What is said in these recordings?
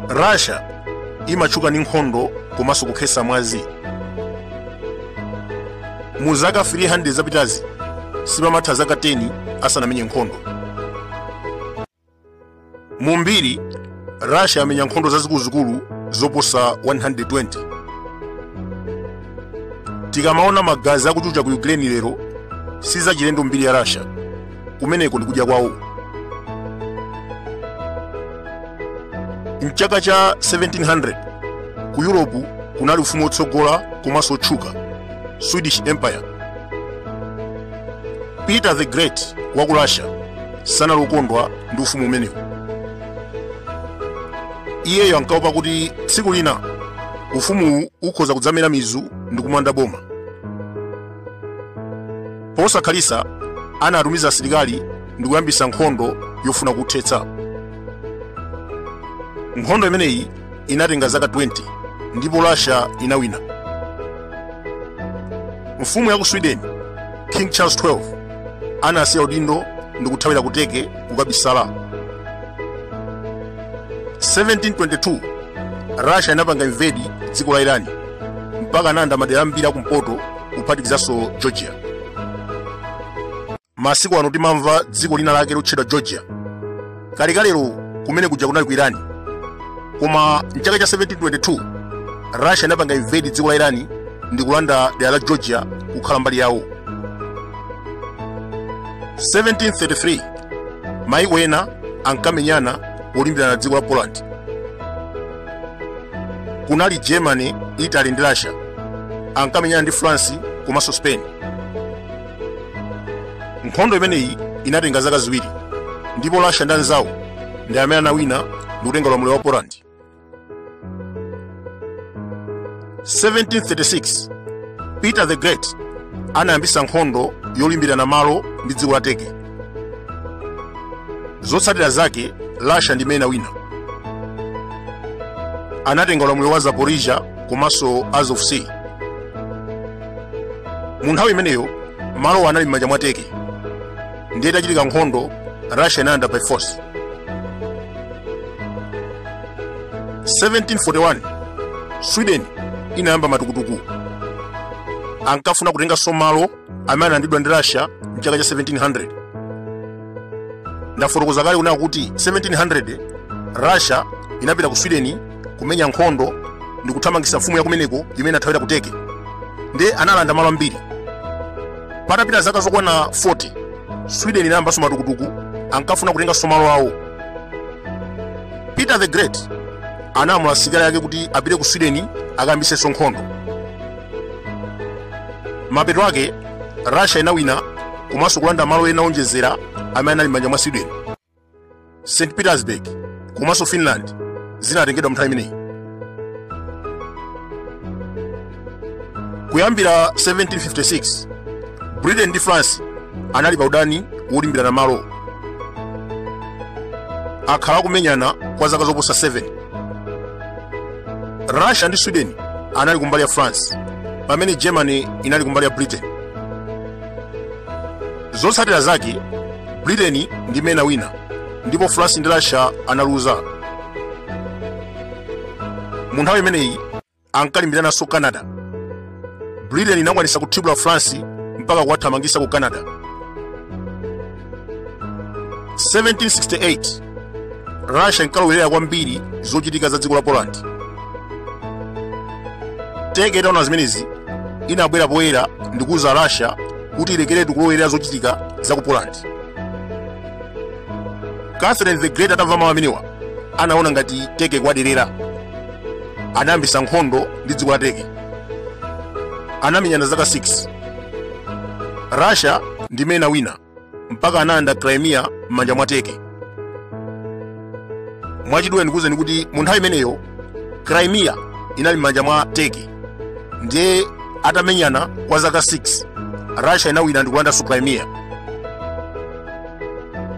russia imatchuka ndi nkhondo komanso kukhetsa mwazi mu zaka 300 zapitazi sipamatha zaka 10 asanamenye nkhondo mu mbiri russia yamenya nkhondo zazikuluzikulu zoposa 120 tikamaona magazi akuchucha ku ukraine lero sizachilendo mbiri ya russia kumeneko ndikudya kwawo mchaka cha 1700 ku europe kunali ufumu wotsogola komanso wotchuka swedish empire peter the great wa ku russia sanali wokondwa ndi ufumu umenewu iyeyo ankaopa kuti tsiku lina ufumuwu ukhoza kudzamera mizu ndi kumanda boma posakhalitsa anatumiza asilikali ndi kuyambitsa nkhondo yofuna kuthetsa nkhondo imeneyi inatenga zaka 20 ndipo russia inawina mfumu ya ku sweden king charles 12 anasiya udindo ndi kuthawira ku Turkey kukabisala 1722 russia inapanga invade dziko la irani mpaka analanda madera ambiri akumpoto kuphatikizanso georgia masiku ano timamva dziko lina lake lotchedwa georgia kalekalero kumene kuja kunali ku irani koma mchaka cha 1722 russia inapanga invade dziko la irani ndi kulanda dera la georgia kukhala mbali yawo 1733 maiko ena ankamenyana polimbirana dziko la poland kunali germany italy ndi russia ankamenyana ndi france komanso spain nkhondo imeneyi inatenga zaka ziwiri ndipo russia ndi anzawo ndi amene anawina ndi kutenga ulamuliro wa poland 1736 peter the great anayambisa nkhondo yolimbirana malo ndi dziko la turkey zotsatira zake russia ndi imene inawina anatenga ulamuliro wa zaporizhia komanso azov sea mu nthawi imeneyo malowo anali m'manja mwa turkey ndiye itachitika nkhondo russia inalanda by force 1741 sweden inayamba matukutuku ankafuna kutenganso malo amene analandidwa ndi russia mchaka cha 1700 ndafotokoza kale kunena kuti 1700 russia inapita ku sweden kumenya nkhondo ndi kuthamangitsa mfumu yakumeneko imene anathawira ku turkey ndiye analanda malo ambiri patapita zaka zokwana 40 sweden inayambanso matukutuku ankafuna kutenganso malo awo peter the great analamula asilikali ake kuti apite ku sweden akayambitsenso nkhondo mapeto ake russia inawina komanso kulanda malo ena owonjezera amene anali m'manja mwa sweden st petersburg komanso finland zinatengedwa mnthawi imeneyi kuyambira 1756 britain ndi france anali pa udani wolimbirana malo akhala akumenyana kwa zaka zoposa 7 russia ndi sweden anali kumbali ya france pamene germany inali kumbali ya britain Zotsatira zake, Britain ndi imene inawina ndipo France ndi Russia analuza. Mu nthawi imeneyi ankalimbirananso Canada. Britain inakwanisa kuthibula France mpaka kuwathamangisa ku Canada. 1768 russia inkalowerera kwambiri zochitika za dziko la poland turkey itaona zimenezi inabwera poyera ndi kuuza russia kuti ilekeretu kulowerera zochitika za ku poland catherine the great atamva mawu amenewa anaona ngati turkey ikuwaderera anayambisa nkhondo ndi dziko la turkey anamenyana zaka 6 russia ndi imene inawina mpaka analanda crimea m'manja mwa turkey mwachidule ndikuwuzeni kuti mu nthawi imeneyo crimea inali m'manja mwa turkey ndiye atamenyana kwa zaka 6 russia inawina ndikulandanso crimea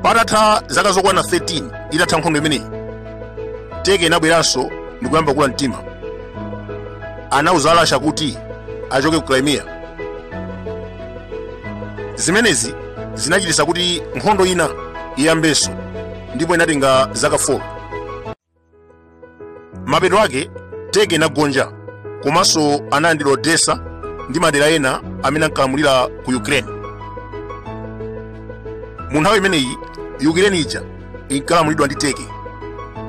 patatha zaka zokwana 13 itatha nkhondo imeneyi turkey inabweranso ndikuyamba kukula mtima anauza russia kuti achoke ku crimea zimenezi zinachititsa kuti nkhondo ina iyambenso ndipo inatenga zaka 4 mapeto ake turkey inagonja komanso analandidwa odessa ndi madera ena amene ankalamulira ku ukraine mu nthawi imeneyi ukraine ija inkalamulidwa ndi turkey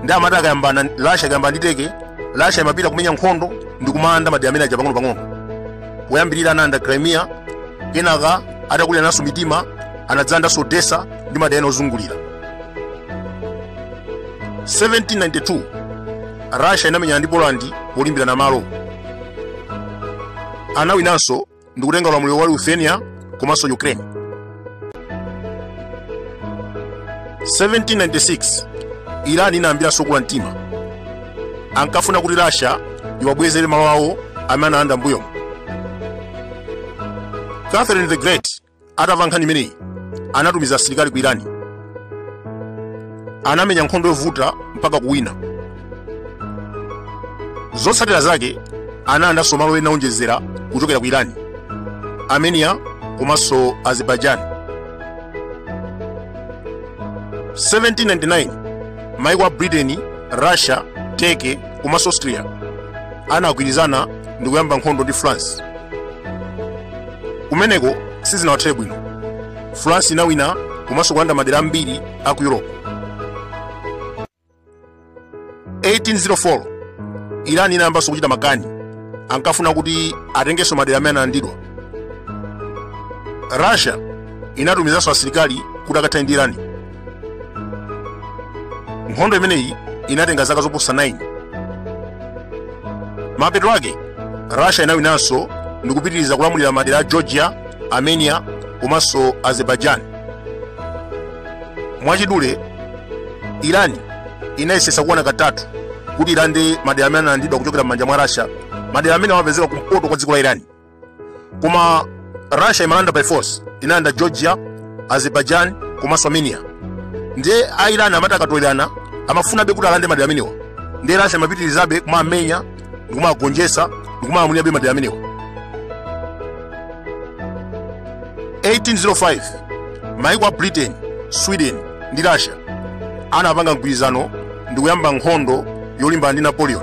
ndiye amati akayambana russia ikayambana ndi turkey russia imapita kumenya nkhondo ndi kumalanda madera amenewaja pang'onopang'ono poyambirira analanda crimea kenaka atakuliranaso mitima anadzalandanso odessa ndi madera ena ozungulira 1792 russia inamenyana ndi poland polimbirana malo anawinanso ndi kutenga ulamuliro wa lithuania komanso ukraine 1796 iran inayambiranso kula mtima ankafuna kuti russia iwabwezere malo awo amene analanda mbuyomo catherine the great atamva nkhani imeneyi anatumiza asilikali ku irani anamenya nkhondo yovuta mpaka kuwina zotsatira zake analandanso malo ena owonjezera kuchokera ku irani armenia komanso azerbaijan 1799 maiko a britain russia turkey komanso austria anagwirizana ndi kuyamba nkhondo ndi france Kumeneko sizinawathere bwino. France inawina komanso kulanda madera ambiri a ku Europe. 1804 Iran inayambanso kuchita makani, ankafuna kuti atengenso madera amene analandidwa. Russia inatumizanso asilikali kuti akathane ndi Iran. nkhondo imeneyi inatenga zaka zoposa 9 mapeto ake russia inawinanso ndi kupitiriza kulamulira madera a georgia armenia komanso azerbaijan mwachidule iran inayesesa kuona katatu kuti ilande madera amene analandidwa kuchokera m'manja mwa russia madera amene amapezeka kumpoto kwa dziko la iran koma russia imalanda by force inalanda georgia azerbaijan komanso armenia ndiye a iran amati akatolerana amafunabe kuti alande madera amenewa ndiye russia imapitirizabe kumamenya ndi kumagonjetsa ndi kumalamulirabe madera amenewa 1805 maiko a britain sweden ndi russia anapanga mgwirizano ndi kuyamba nkhondo yolimbana ndi napoleon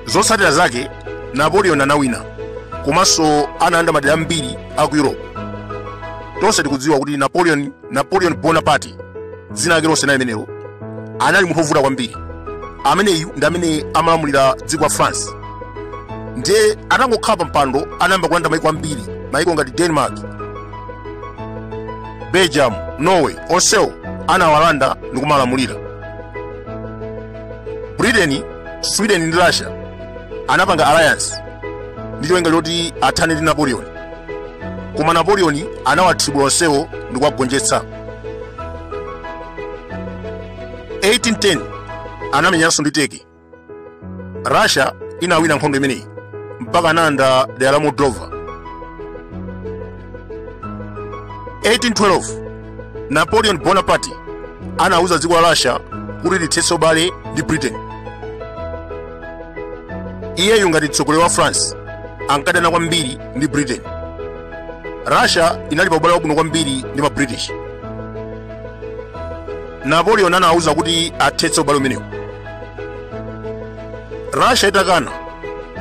zotsatira zake napoleon anawina komanso analanda madera ambiri a ku europe tonse tikudziwa kuti napoleon napoleon bonaparte dzina lake lonse ndi limenelo anali munthu wovuta kwambiri ameneyu ndi amene amalamulira dziko la france ndiye atangokhala pa mpando anayamba kulanda maiko ambiri maiko ngati denmark belgium norway onsewo anawalanda ndi kumalamulira britain sweden ndi russia anapanga alliance ndi cholinga choti athane ndi napoleon koma napoleon anawathibula onsewo ndi kuwagonjetsa 1810 anamenyanso ndi turkey russia inawina nkhondo imeneyi mpaka analanda dera la moldova 1812 Napoleon Bonaparte anauza dziko la Russia kuti lithetse ubale ndi Britain. Iyeyu ngati mtsogoleri wa France ankadana kwambiri ndi Britain. Russia inali pa ubale wabwino kwambiri ndi ma British. Napoleon anauza kuti athetse ubale umenewu. Russia itakana,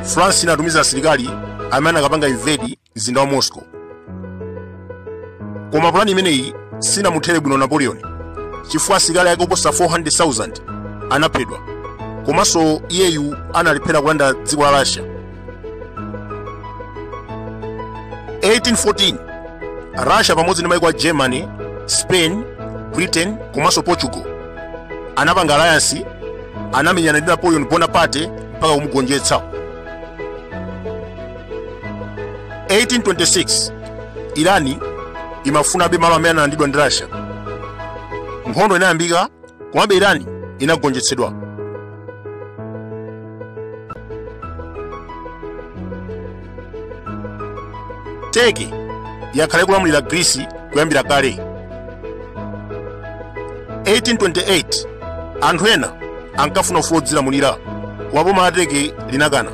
France inatumiza asilikali amene anakapanga invade mzinda wa moscow koma pulani imeneyi sinamuthere bwino napoleon chifukwa asilikali ake oposa 400,000 anaphedwa komanso iyeyu analephera kulanda dziko la russia 1814 russia pamodzi ndi maiko a germany spain britain komanso portugal anapanga alliance anamenyana ndi napoleon bonaparte mpaka kumugonjetsa 1826 iran imafunabe malo amene analandidwa ndi russia nkhondo inayambika komabe iran inagonjetsedwa turkey yakhala ikulamulira greece kuyambira kale 1828 anthu ena ankafuna ufulu wodzilamulira koma boma la turkey linakana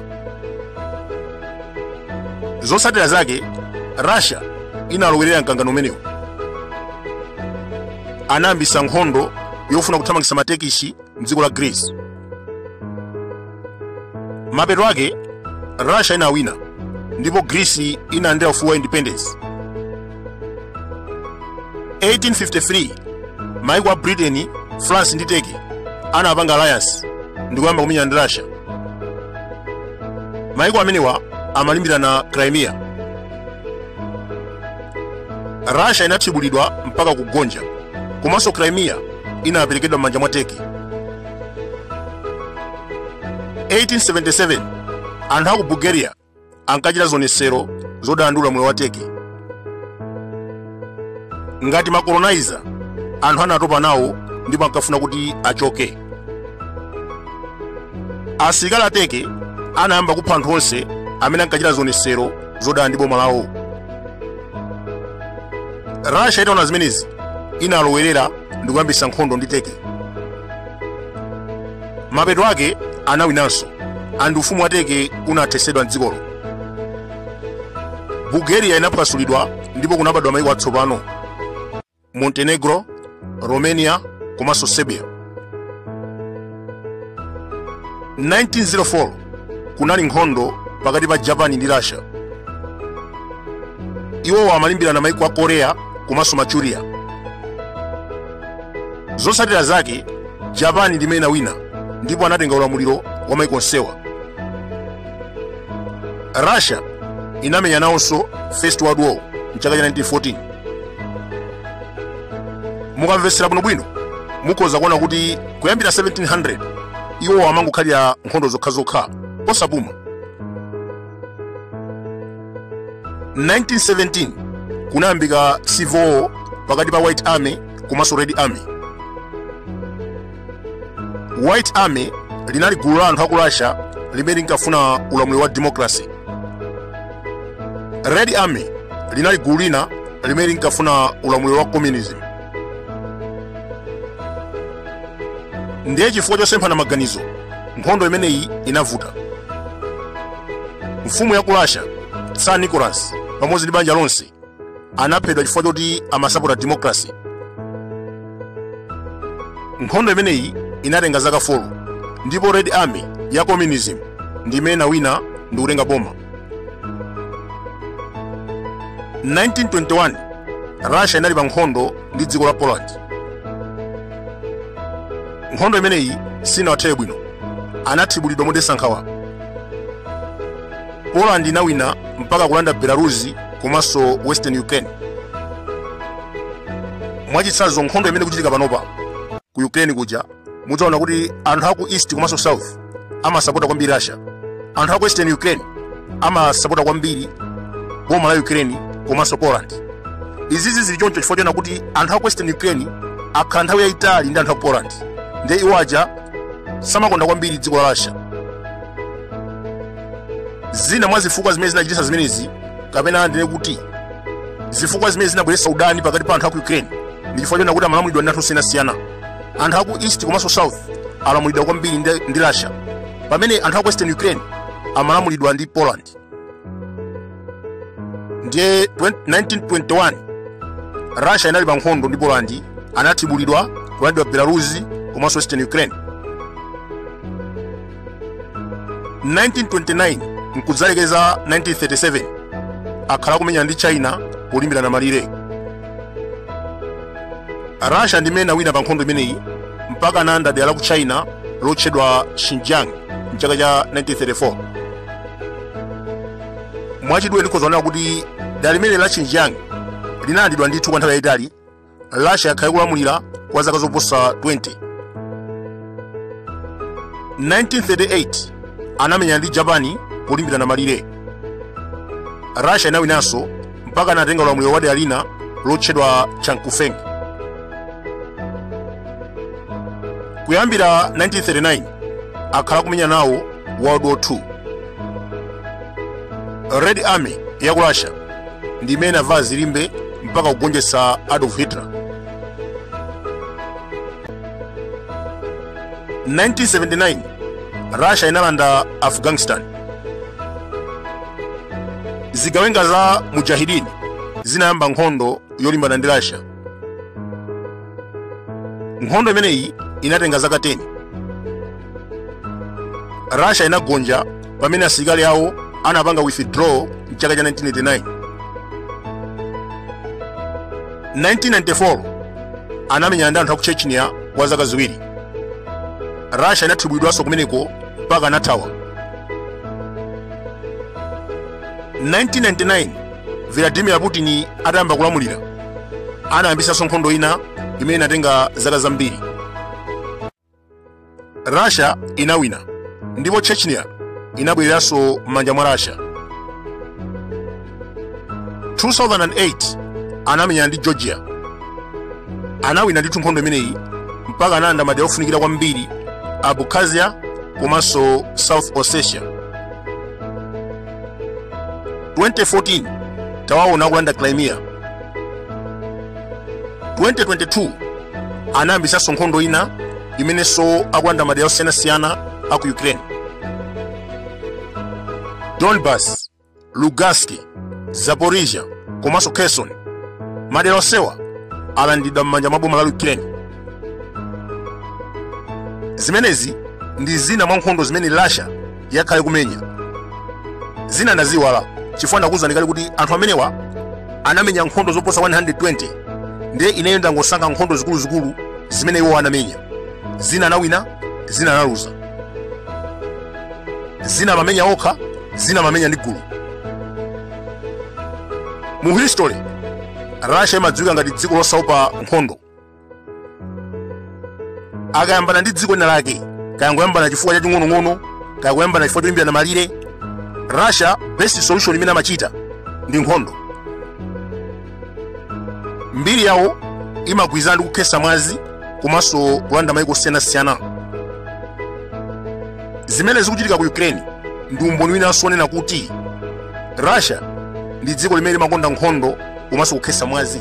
zotsatira zake russia inalowerera mkangano umenewu anayambisa nkhondo yofuna kuthamangisa ma turkish mdziko la greece mapeto ake russia inawina ndipo greece inalandira ufulu wa independence 1853 maiko a britain france ndi turkey anapanga alliance ndi kuyamba kumenyana ndi russia maiko amenewa amalimbirana crimea russia inathibulidwa mpaka kugonja komanso crimea inaperekedwa m'manja mwa turkey 1877 anthu a ku bulgaria ankachita zionetsero zodana ndi ulamuliro wa turkey ngati ma colonizer anthu anatopa nawo ndipo ankafuna kuti achoke asilikali a turkey anayamba kupha anthu onse amene ankachita zionetsero zodana ndi boma lawo russia itaona zimenezi inalowerera ndi kuyambitsa nkhondo ndi turkey mapeto ake anawinanso and ufumu wa turkey unathesedwa mdzikolo bulgaria inaphwasulidwa ndipo kunabadwa maiko atsopano montenegro romania komanso serbia 1904 kunali nkhondo pakati pa japan ndi russia iwowo amalimbirana maiko a korea komanso manchuria zotsatira zake japan ndi imene inawina ndipo anatenga ulamuliro wa maiko onsewa russia inamenya nawonso first world war mchaka cha 1914 mukamvetsera bwinobwino mukhoza kuona kuti kuyambira 1700 iwo amangokhalira nkhondo zokhazokha osapuma 1917 kunayambika civil war pakati pa white army komanso red army white army linali gulu la anthu aku russia limene linkafuna ulamuliro wa democracy red army linali gulu lina limene linkafuna ulamuliro wa communism ndiye chifukwa chosemphana maganizo nkhondo imeneyi inavuta mfumu ya ku russia tsar nicholas pamodzi ndi banja lonse anaphedwa chifukwa choti amasapota democracy nkhondo imeneyi inatenga zaka 4 ndipo red army ya communism ndi imene inawina ndi kutenga boma 1921 russia inali pa nkhondo ndi dziko la poland nkhondo imeneyi sinawathere bwino anathibulidwa modetsa nkhawa poland inawina mpaka kulanda belarus komanso western ukraine mwachitsanzo nkhondo imene ikuchitika panopa ku ukraine kuja mudzaona kuti anthu aku east komanso south amasapota kwambiri russia anthu aku western ukraine amasapota kwambiri boma la ukraine komanso poland izizi zili choncho chifukwa chona kuti anthu aku western ukraine akhala nthawi yayitali ndi anthu aku poland nde iwo aja samakonda kwambiri dziko la russia zina mwa zifukwa zimene zinachititsa zimenezi kapena ndinene kuti zifukwa zimene zinabweretsa udani pakati pa anthu aku ukraine ndi chifukwa chona kuti amalamulidwa ndi anthu osiyanasiyana anthu aku east komanso south alamulidwa kwambiri ndi russia pamene anthu aku western ukraine amalamulidwa ndi poland ndiye 1921 russia inali pa nkhondo ndi poland anathibulidwa kulandidwa belarus komanso western ukraine 1929 nkudzalekeza 1937 akhala akumenyana ndi china polimbirana malire russia ndi imene inawina pa nkhondo imeneyi mpaka analanda dera la ku china lotchedwa xinjiang mchaka cha 1934 mwachidule ndikhoza kunena kuti dera limeneli la xinjiang linalandidwa ndithu kwa nthawi yayitali russia yakhala ikulamulira kwa zaka zoposa 20 1938 anamenyana ndi japani polimbirana malire russia inawinanso mpaka anatenga ulamuliro wa dera lina lotchedwa chankufeng kuyambira 1939 akhala kumenya nawo world war 2 red army ya ku russia ndi imene inavala zilimbe mpaka kugonjetsa adolf hitler 1979 russia inalanda afghanistan zigawenga za mujahidini zinayamba nkhondo yolimbana ndi russia nkhondo imeneyi inatenga zaka 10 russia inagonja pamene asilikali awo anapanga withdraw mchaka cha 1989 1994 anamenyana ndi anthu a ku chechnya kwa zaka ziwiri russia inathibwidwanso kumeneko mpaka anathawa 1999 Vladimir Putin atayamba kulamulira anayambisanso nkhondo ina imene inatenga zaka zambiri. Russia inawina ndipo Chechnya inabwereranso m'manja mwa Russia. 2008 anamenyana ndi Georgia. Anawina ndithu nkhondo imeneyi mpaka analanda madera ofunikira kwambiri a Abkhazia komanso South Ossetia. 2014 tawaona akulanda crimea 2022 anayambisanso nkhondo ina imenenso akulanda madera osiyanasiyana a ku ukraine donbas lugansk zaporizhia komanso kherson madera onsewa alandidwa m'manja mwa boma la ukraine zimenezi ndi zina mwa nkhondo zimene russia yakhala ikumenya zina ndaziiwala chifukwa ndakuwuzani kale kuti anthu amenewa anamenya nkhondo zoposa 120 ndiye ineyo ndangosankha nkhondo zikuluzikulu zimene iwo anamenya zina anawina zina analuza zina amamenya okha zina amamenya ndi gulu mu history russia imadziwika ngati dziko losaopa nkhondo akayambana ndi dziko lina lake kaya angoyambana chifukwa chaching'onong'ono kaya angoyambana chifukwa cholimbirana malire russia best solution imene amachita ndi nkhondo mbiri yawo imagwirizana ndi kukhesa mwazi komanso kulanda maiko osiyanasiyana zimene zikuchitika ku ukraine ndi umboni winanso wonena kuti russia ndi dziko limene limakonda nkhondo komanso kukhetsa mwazi